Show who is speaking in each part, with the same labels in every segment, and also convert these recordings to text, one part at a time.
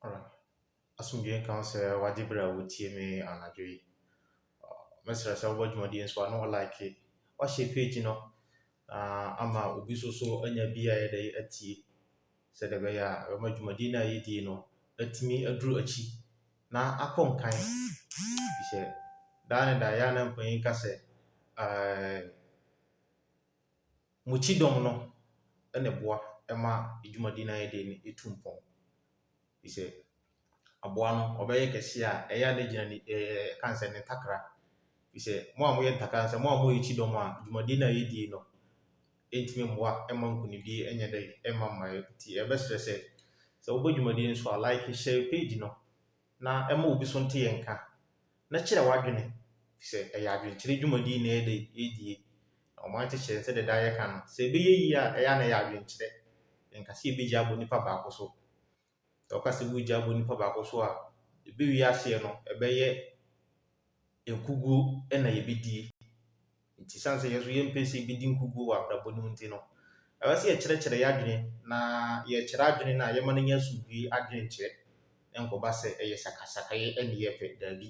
Speaker 1: Alright. Asomdwoe nka wo sɛ wagye berɛ a wotie me anadwo yi. Uh, Mɛsrɛ sɛ wobɔ dwumadie nso a na wɔlike wahyɛ page no na ama obi nso so anya bi a ɛyɛ dɛ atie sɛdeɛ ɛbɛyɛ a ɛbɛma dwumadie no a yɛdie no atumi aduru akyi na akɔ nkan. Efisɛ daa ne daa ɛyɛ a na mpanyin ka sɛ, ɛɛ mo kyidɔm no na ɛboa ma dwumadi no a yɛreyɛ no tu mpɔn. Efisɛ aboa no ɔbɛyɛ kɛse a, ɛyɛ a na egyina ne ɛɛ yɛka no sɛ ne ntakra. Efisɛ mo a moyɛ ntakra no, sɛ mo a moyɛ kyidɔm a, dwumadi no a yɛredi no, ɛntumi mmoa mma nkunimdie nyɛ dɛ mma mmaeɛ. Nti yɛbɛsrɛ sɛ, sɛ wobɔ dwumadie no so a, like, share page no na ma obi nso nte yɛn nka na kyerɛ w'adwene firi sɛ ɛyɛ adwenkyerɛ dwumadie na yɛda yi yɛredie. Na ɔman kyekyerɛ no sɛdeɛ daa yɛka no, sɛ ɛbɛyɛ yie a ɛyɛ a na ɛyɛ adwenkyerɛ. Yɛnka sɛ yɛbɛgyae abɔ nipa baako so. Sɛ wɔka sɛ wogya bɔ nipa baako so a, ɛbɛwie aseɛ no, ɛbɛyɛ nkuguo na yɛbɛdie. Nti ɛsiane sɛ yɛn nso yɛmpɛ sɛ yɛbɛdi nkuguo wɔ abrabɔ no mu nti no, ɛwɔ sɛ yɛkyerɛkyerɛ yɛn adwene na yɛkyerɛ adwene no a, yɛma no nya asomdwoeɛ adwenkyerɛ na ɛnkɔba sɛ ɛyɛ sakasakayɛ na yɛpɛ. Daabi.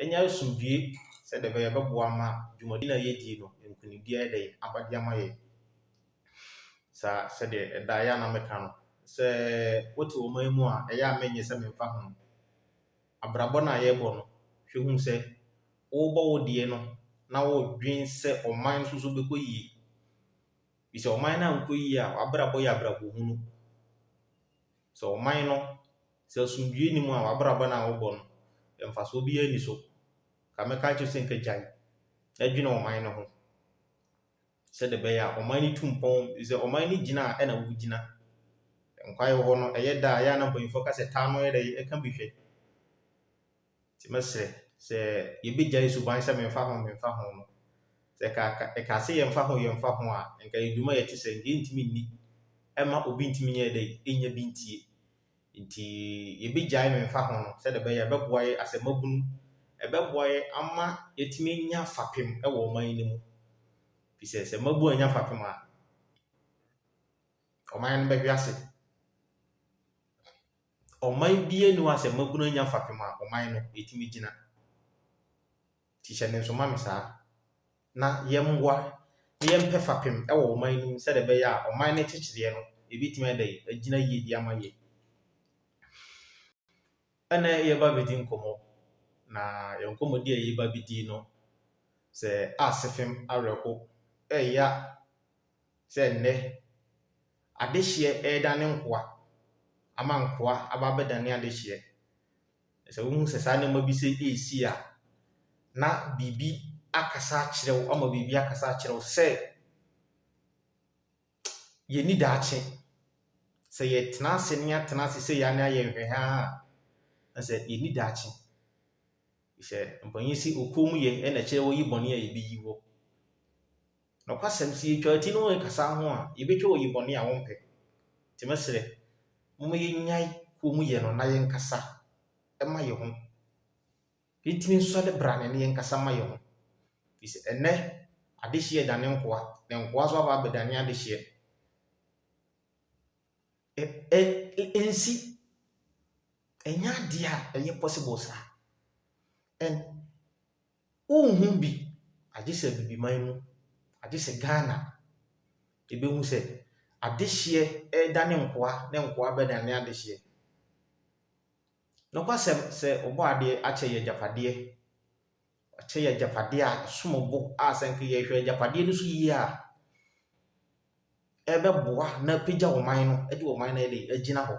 Speaker 1: Anya asomdwoe sɛdeɛ ɛbɛyɛ ɛbɛboa ama dwumadie no a yɛdie no nkunimdie ayɛ dɛn aba de ama yɛn. Sɛ sɛdeɛ ɛda yɛ a na meka no, sɛ wote ɔman mu a ɛyɛ a menyɛ sɛ memfa ho. Abrabɔ no a yɛbɔ no, hwɛ hu sɛ wobɔ wo deɛ no na wodwen sɛ ɔman nso so bɛkɔ yie. Efisɛ ɔman no ankɔ yiye a, w'abrabɔ yɛ abrabɔ hunu. Sɛ ɔman no, sɛ asomdwoe nni mu a, w'abrabɔ no a wobɔ no, mfaso biara nni so. Nka mɛka akyerɛ sɛ nka gyae na dwene ɔman no ho sɛdeɛ ɛbɛyɛ a ɔman no tu mpɔn. Sɛ ɔman no gyina a, ɛna wogyina. Nkwa wɔ hɔ no, ɛyɛ da a, ɛyɛ a na mpanyimfoɔ ka sɛ taa no yɛ dɛ, ɛka bi hwɛ. Nti mɛsrɛ sɛ yɛbɛgyae suban sɛ memfa ho memfa ho no. Sɛ ɛkaa sɛ yɛmfa ho yɛmfa ho a, nka yɛ dwuma yɛte sɛ nka yɛntumi nni. Ɛmma obi ntumi nyɛ dɛ nnya bi ntie. Nti yɛbɛgyae memfa ho no sɛdeɛ ɛbɛyɛ a ɛbɛboa yɛ asɛm mabunu, ɛbɛboa yɛ ama yɛatumi anya fapem wɔ ɔman yi mu. Ɛfiri sɛ sɛ mmabu annya fapem a, ɔman no bɛhwe ase. ɔman biara nni hɔ a sɛ mmabunu anya fapem a ɔman no ɛtumi gyina. Nti hyɛ ne nsoma me saa. Na yɛmmoa na yɛmpɛ fapem wɔ ɔman no mu sɛdeɛ ɛbɛyɛ a ɔman no nkyekyereɛ no ɛbɛtumi ayɛ dɛn agyina yie de ama yɛn. Ɛna yɛba bɛdi nkɔmmɔ na yɛn nkɔmmɔdi a yɛba bɛdi no sɛ asefem awerɛho ɛya sɛ nnɛ adehyeɛ reda ne nkoa ama nkoa aba abɛdane adehyeɛ. Sɛ wohu sɛ saa nneɛma bi sɛ ɛresi a, na biribi akasa akyerɛ wo ama biribi akasa akyerɛ wo sɛ yɛni daakye. Sɛ yɛtena ase ne yɛatena ase sɛ yɛa ne ayɛ nhwɛhaa a, na sɛ yɛni daakye. Sɛ mpanyin si okuo mu yɛ na ɛkyerɛ wɔyi bɔne a yɛbɛyi wɔ. Nokwasɛm, sɛ yɛtwa ti na wɔrekasa ho a, yɛbɛtwa wɔ yi bɔne a wɔmpɛ. Nti mɛsrɛ, momma yɛnnyae komm yɛ no na yɛnkasa mma yɛ ho. Yɛntumi nsɔ ne bra ne ne yɛnkasa mma yɛ ho. Firi sɛ ɛnnɛ, adehyeɛ adane nkoa, na nkoa nso aba abɛdane adehyeɛ. Ɛ, ɛ, ɛnsi. Ɛnyɛ adeɛ a ɛyɛ possible saa. And. Wonhu bi, agye sɛ Abibiman mu, agye sɛ Ghana. Yɛbɛhu sɛ adehyeɛ redane nkoa ne nkoa bɛdane adehyeɛ. Nokwasɛm, sɛ Ɔbɔadeɛ akyɛ yɛn agyapadeɛ, wakyɛ yɛn agyapadeɛ a ɛsom bo a sɛ anka yɛhwɛ agyapadeɛ no so yie a, ɛbɛboa na apagya ɔman no de ɔman no ayɛ dɛn, agyina hɔ.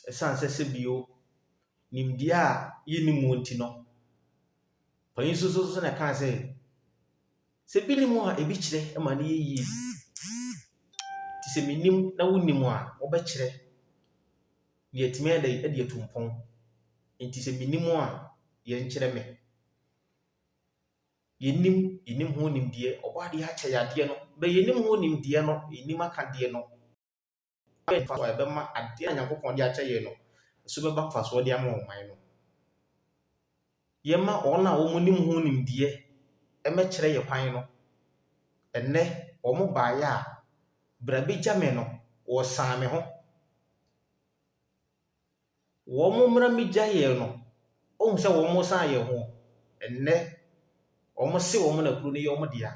Speaker 1: Ɛsiane sɛ sɛ bio, nimdeɛ a yɛnni mu nti no, panyin soso so na ɛkaa sɛ, sɛ ebi nni mu a, ebi kyerɛ ma no yɛ yie. Te sɛ menim na wonnim a, wobɛkyerɛ na yɛatumi ayɛ dɛn, de atu mpɔn. Enti sɛ menim a, yɛnkyerɛ me. Yɛnnim, yɛnnim ho nimdeɛ. Ɔbɔadeɛ akyɛ yadeɛ no. Bɛ yɛnnim ho nimdeɛ no, yɛnnim aka deɛ no. Bɛn mfasoɔ a ɛbɛma adeɛ a Nyankopɔn de akyɛ yɛn no so bɛba mfasoɔ de ama ɔman no? Yɛmma wɔn a wɔn nim ho nimdeɛ ɛmɛkyerɛ yɛ kwan no. Ɛnnɛ, wɔn baeɛ a, bra bɛgya me no, wɔsan me ho. wɔn mmra mmegya yɛn no, wohu sɛ wɔn nsa ayɛ ho. Ɛnnɛ, wɔse wɔn na kuro no yɛ wɔn dea.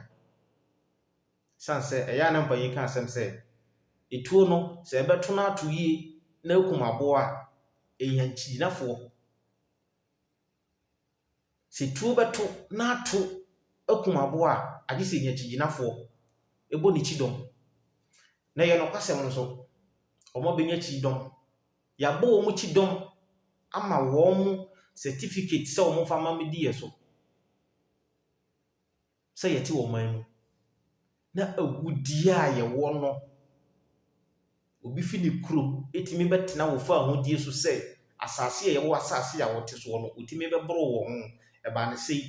Speaker 1: Ɛsiane sɛ ɛyɛ a na mpanin ka asɛm sɛ, etuo no sɛ ɛbɛto no ato yie na akum aboa a, ɛhia akyigyinafoɔ. Sɛ tuo bɛto na ato akum aboa a, agye sɛ ɛnya kyigyinafoɔ bɔ ne kyidɔm. Na ɛyɛ nokwasɛm nso, wɔbɛnya kyidɔm. Wɔabɔ wɔn kyidɔm ama wɔn certificate sɛ wɔmfa mma mmɛdi yɛn so. sɛ yɛte ɔman mu na agudeɛ a yɛwɔ no, obi fi ne kuro ɛtumi bɛtena wɔ faahodie so sɛ asase a yɛwɔ asase a wɔte soɔ no ɔtumi bɛboro wɔ ho. Ɛbaa ne sɛi.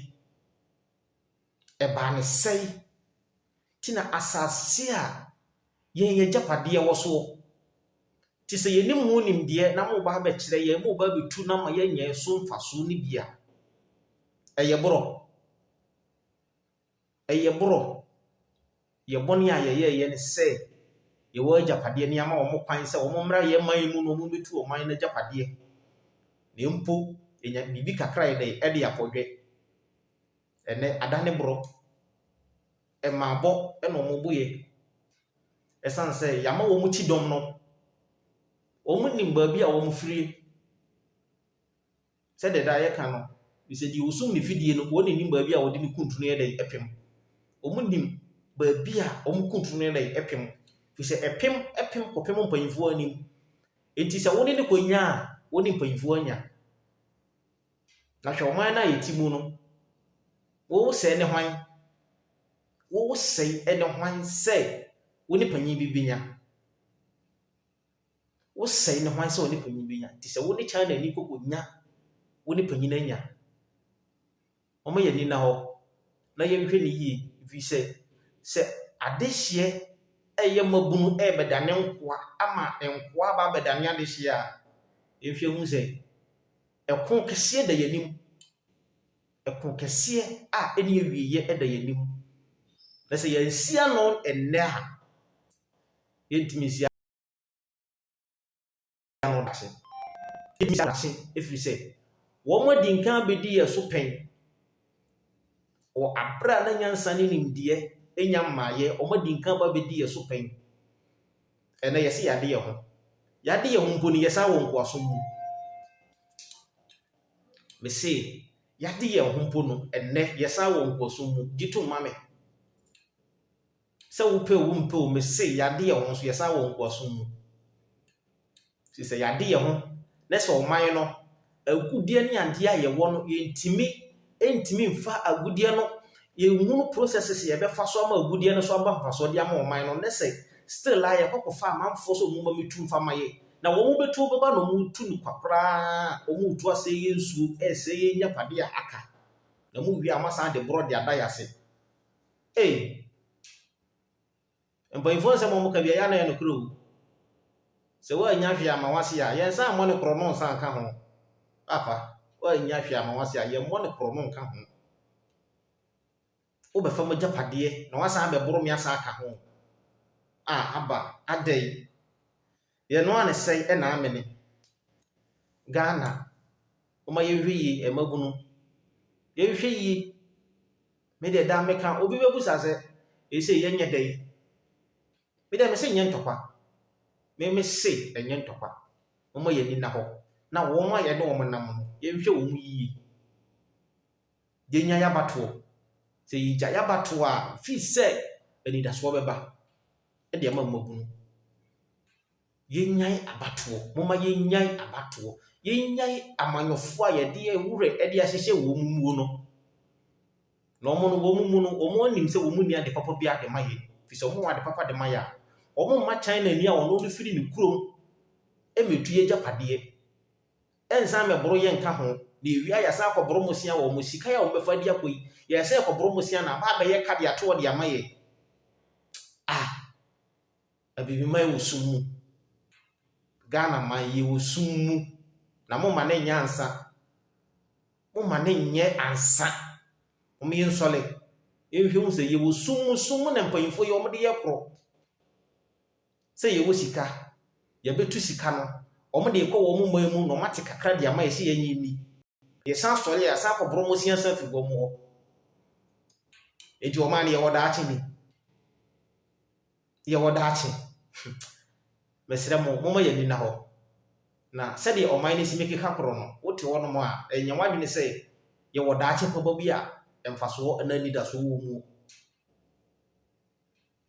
Speaker 1: Ɛbaa ne sɛi. Nti na asase a yɛn agyapadeɛ wɔ soɔ, te sɛ yɛnim ho nimdeɛ na mo reba abɛkyerɛ yɛn, mo reba abɛtu no ama yɛanya so mfasoɔ no bi a, ɛyɛ borɔ. Ɛyɛ borɔ. Yɛn bɔne a yɛyɛeɛ ne sɛ yɛwɔ agyapadeɛ na yɛama wɔn kwan sɛ wɔmmra yɛn man yi mu na wɔmmɛtu ɔman no agyapadeɛ. Na mpo yɛnya biribi kakra a yɛde de akɔdwɛ. Ɛnnɛ adane borɔ. Mmaabɔ na wɔboeɛ. Ɛsiane sɛ yɛama wɔn kyidɔm no, wɔnnim baabi a wɔfirie. Sɛdeɛ daa yɛka no, bisɛ deɛ ɔsum ne fidie no, wɔn nnim baabi a wɔde ne kuntunu yɛ dɛn pem. Wɔn nnim baabi a wɔn kuntunu no yɛ dɛn pem. Firi sɛ ɛpem pem kɔpem mpanyinfoɔ anim. Enti sɛ wone no kɔnya a, wone mpanyinfoɔ anya. Na hwɛ ɔman no a yɛte mu no, wosɛe ne hwan? Wosɛe ne hwan sɛ wone panyin bi bɛnya? Wosɛe no hwan sɛ wo ne panyin benya? Nti sɛ wo ne China ni koko nya wo ne panyin anya. Wɔma yɛn ani nna hɔ na yɛnhwɛ no yie ɛfiri sɛ sɛ adehyeɛ ɛyɛ mmabunu ɛrebɛdane nkoa ama nkoa aba abɛdane adehyeɛ a yɛnhwɛ hu sɛ ɛko kɛseɛ da yɛn anim ɛko kɛseɛ a ɛne awieɛ ɛda yɛn anim na sɛ yɛnsi ano ɛnnɛ a yɛntumi nsi ano no da ase. Ebetumi ada ase efiri sɛ wɔadi nkan abedi yɛn so pɛn wɔ abere a na nyansa ne nimdeɛ nnya mmaeɛ. Wɔadi nkan aba abedi yɛn so pɛn. Ɛnnɛ yɛse yɛade yɛn ho. Yɛade yɛn ho mpo no, yɛsan wɔ nkoasom mu. Mese yɛade yɛn ho mpo no, ɛnnɛ yɛsan wɔ nkoasom mu. Gye tom ma me. Sɛ wopɛ o wompɛ o, mese yɛade yɛn ho nso yɛsan wɔ nkoasom mu. Ɛfiri sɛ yɛade yɛn ho na sɛ ɔman no agudeɛ ne adeɛ a yɛwɔ no yɛntumi ntumi mfa agudeɛ no yɛnhunu processes yɛbɛfa so ama agudeɛ no so aba mfasoɔ de ama ɔman no na sɛ still a yɛkɔ kɔfa amanfoɔ sɛ wɔn ma metu mfa ma yɛ na wɔn bɛtu bɛba na wɔn tu no kwa koraa wɔn retu asɛe yɛ nsuo ɛresɛe yɛ nyapadeɛ a aka na mu wie a wɔasan de borɔ de ada yɛ ase. Ei! Mpanyimfoɔ nsɛm a wɔka biara, ɛyɛ a na ɛyɛ nokorɛ o. Sɛ woannya hwee amma w'ase a, yɛn nsa mmɔ no korɔno nsa nka ho. Papa, woannya hwee amma w'ase a, yɛmmɔ no korɔno nka ho. Wobɛfa m'agyapadeɛ na woasan abɛboro me asan aka ho. Ah, Abba, adɛn? Yɛ noa ne sɛe ɛna amene. Ghana moma yɛnhwɛ yie ɛmabunu yɛnhwɛ yie me deɛ daa meka obi bɛbusa sɛ ɛsei yɛnyɛ dɛ yi me deɛ mese nyɛ ntɔkwa me mese ɛnyɛ ntɔkwa moma yɛni na hɔ na wɔn a yɛne wɔn nam no yɛnhwɛ wɔn yie yenya y'abatoɔ. Sɛ yegya y'abatoɔ a, fi sɛ anidasoɔ bɛba de ama mmabunu. Yenyae abatoɔ, moma yenyae abatoɔ, yenyae amanyɔfoɔ a yɛde yɛn werɛ de ahyehyɛ wɔn muo no. Na wɔn no, wɔn mu no, wɔn anim sɛ wɔn nni ade papa bi ade ma yɛ. Fi sɛ wɔn wɔ ade papa de ma yɛ a, wɔn mma China ni a wɔn no firi ne kurom mɛtu y'agyapadeɛ. Ɛnsan mmɛboro yɛn nka ho, na ewia yɛasan akɔboro mo sia wɔ mo sika yi a wɔbɛfa adi akɔ yi. Yɛyɛ sɛ yɛkɔboro mo sia na aba abɛyɛ ka de ato hɔ de ama yɛn. Ah! Abibiman wɔ sum mu. Ghana man, yɛwɔ sum mu. Na momma no nyɛ ansa. Momma no nyɛ ansa. Wɔn yɛ nsɔle. Yɛnhwɛ hu sɛ yɛwɔ sum mu, sum mu na mpanyinfoɔ yi wɔn de yɛ korɔ. Sɛ yɛwɔ sika, yɛbɛtu sika no, wɔn de rekɔ wɔn man mu na wɔate kakra de ama yɛn sɛ yɛnyɛ nni. Yɛsan sɔre a, yɛasan akɔborɔ mmosea san firi wɔn hɔ. Enti wɔn a no yɛwɔ daakye ni. Yɛwɔ daakye. Mesrɛ mo, momma yɛn ani nna hɔ. Na sɛdeɛ ɔman no si mi keka korɔ no, wote hɔ nom a, ɛnyɛ w'adwene sɛ yɛwɔ daakye paba bi a mfasoɔ anaa anidasoɔ wɔ mu.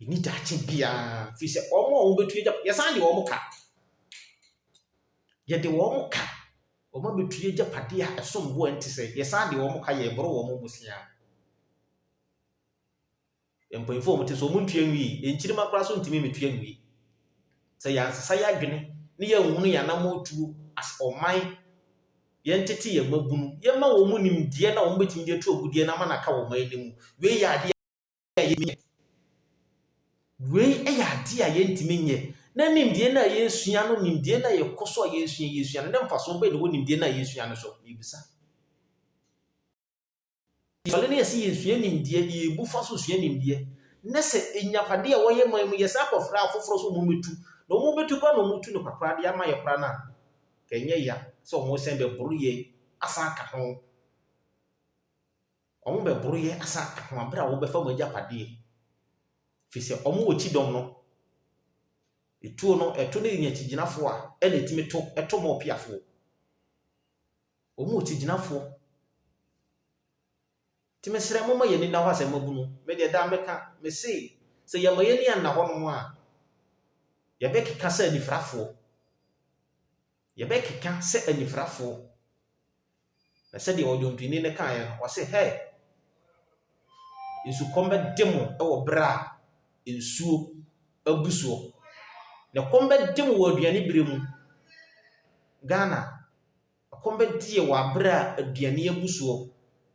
Speaker 1: Yɛnni daakye biara, ɛfiri sɛ wɔn a wɔbɛtu yɛn agyapadeɛ, yɛsan de wɔn ka. Yɛde wɔn ka, wɔabɛtu yɛn agyapadeɛ a ɛsom bo a ɛnte sɛ, yɛsan de wɔn ka, yɛreboro wɔn bosea. Mpanyinfoɔ wɔn te so wɔn ntua nwie yɛn nkyirimma koraa so ntumi ntua nwie sɛ yɛansesa yɛn adwene ne yɛn nhunu yɛn anamɔ tuo as ɔman yɛn tete yɛn mma bunu yɛn ma wɔn nimdeɛ na wɔn bɛtumi de atu wɔn deɛ na ama na aka wɔn anim wei yɛ adeɛ a yɛntumi nyɛ. Wei yɛ adeɛ a yɛntumi nyɛ. Na nimdeɛ no a yɛresua no, nimdeɛ no a yɛkɔ so a yɛresua yɛresua no, na mfasoɔ bɛn na ɛwɔ nimdeɛ no a yɛresua no so? Mebisa. Yɛsɔre na yɛsɛ yɛsua nimdeɛ, yɛbu fa so sua nimdeɛ, na sɛ agyapadeɛ a wɔyɛ man mu yɛsan kɔfrɛ afoforɔ sɛ wɔmmɛtu, na wɔbɛtu koraa na wɔtu no kakra de ama yɛ koraa no a, ka ɛnyɛ ya sɛ wɔsan bɛboro yɛn asan aka ho. Wɔn bɛboroyɛ asa ako abere a wɔbɛfa wɔn agyapadeɛ, firi sɛ wɔn wɔ kyidɔm no. Etuo no, ɛto no nya kyigyinafoɔ a, ɛna ɛtumi to, ɛto ma ɔpeafoɔ. Wɔn wɔ kyigyinafoɔ. Nti mesrɛ mo ma yɛn ani nna hɔ asɛm abunu. Me deɛ daa meka, me se, sɛ yɛma yɛn ani anna hɔnom a, yɛbɛkeka sɛ anifirafoɔ. Yɛbɛkeka sɛ anifirafoɔ. Na sɛdeɛ ɔdwontoni no kaeɛ no, ɔse, Hɛɛ! Nsukɔm bɛde mo wɔ berɛ a nsuo abu soɔ, na ɛkɔm bɛde mo wɔ aduane berɛ mu. Ghana, ɛkɔm bɛde yɛn wɔ berɛ a aduane abu soɔ.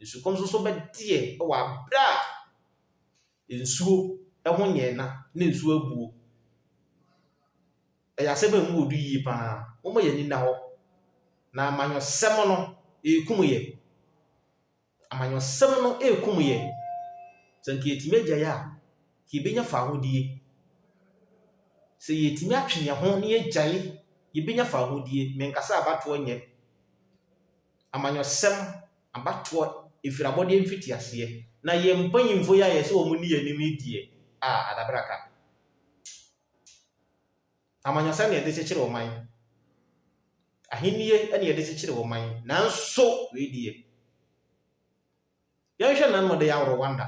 Speaker 1: Nsukɔm nso bɛde yɛn wɔ berɛ a . Nsuo ho nyɛɛna ne nsuo abuo. Ɛyɛ asɛm a ɛmu wɔ du yie pa ara. Momma yɛn ani nna hɔ. Na amanyɔsɛm no rekum yɛn. Amanyɔsɛm no rekum yɛn. Sɛ anka yɛtumi agyae a, anka yɛbɛnya fawohodie. Sɛ yɛtumi atwe yɛn ho na yɛagyae, yɛbɛnya fawohodie. Menkasa abatoɔ nyɛ. amanyɔsɛm abatoɔ ɛfiri abɔdeɛ mfitiaseɛ, na yɛn mpanyimfoɔ yi a yɛsɛ wɔn nni yɛn anim yi deɛ, ah, adabra ka. Amanyɔsɛm na yɛde kyekyere ɔman, ahennie na yɛde kyekyere ɔman, nanso wei deɛ, yɛnhwɛ nano ɔda yi a Rwanda,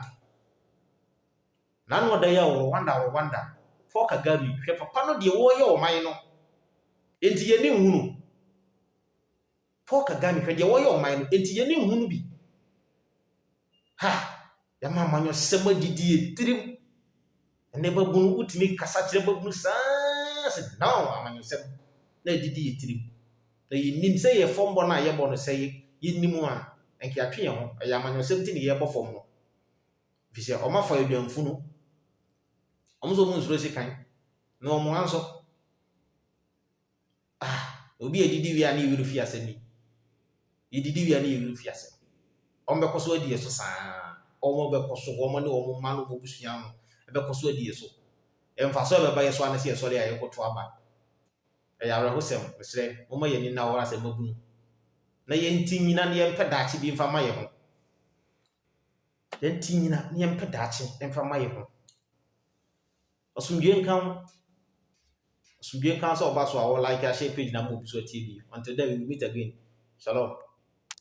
Speaker 1: nano ɔda yi a Rwanda, Rwanda, Paul Kagame, hwɛ papa no deɛ wɔreyɛ ɔman no, enti yɛn ani nhunu. Paul Kagame hwɛ deɛ wɔyɛ ɔman no enti yɛn ani nhunu bi. Ha! Yɛama amanyɔsɛm adidi yɛ tirim. Ɛnɛ babunu wotumi kasa kyerɛ babunu saa sɛ now amanyɔsɛm na adidi yɛ tirim. Na yɛnim sɛ yɛ fam bɔ no a yɛbɔ no sɛ yɛnim a ɛnka yɛatwe yɛn ho. Ɛyɛ amanyɔsɛm ti ne yɛbɔ fam no. Ɛfiri sɛ wɔn afa aduanfu no. Wɔn nso wɔn nsuro sekan na wɔn anso. Ah, obi a edidi wia ne werɛ fi asɛm yi. Edidi wia ne werɛ fi asɛm. Wɔn bɛkɔ so adi yɛ so saa. Wɔn bɛkɔ so, wɔn ne wɔn mma no, wɔn abusua no, ɛbɛkɔ so adi yɛ so. Mfaso a ɛbɛba yɛ so anase yɛ sɔre a yɛkɔto aba. Ɛyɛ awerɛhosɛm, mesrɛ, momma yɛn ani nna hɔ asɛm abunu. Na yɛnti nyina na yɛmpɛ daakye bi mfa ma yɛn ho. Yɛnti nyina na yɛmpɛ daakye mfa ma yɛn ho. Asomdwie nka wo. Asomdwie nka wo sɛ ɔba so a wɔ like ahyɛ page na ama obi so atie bi. Until then we will meet again. Shalom.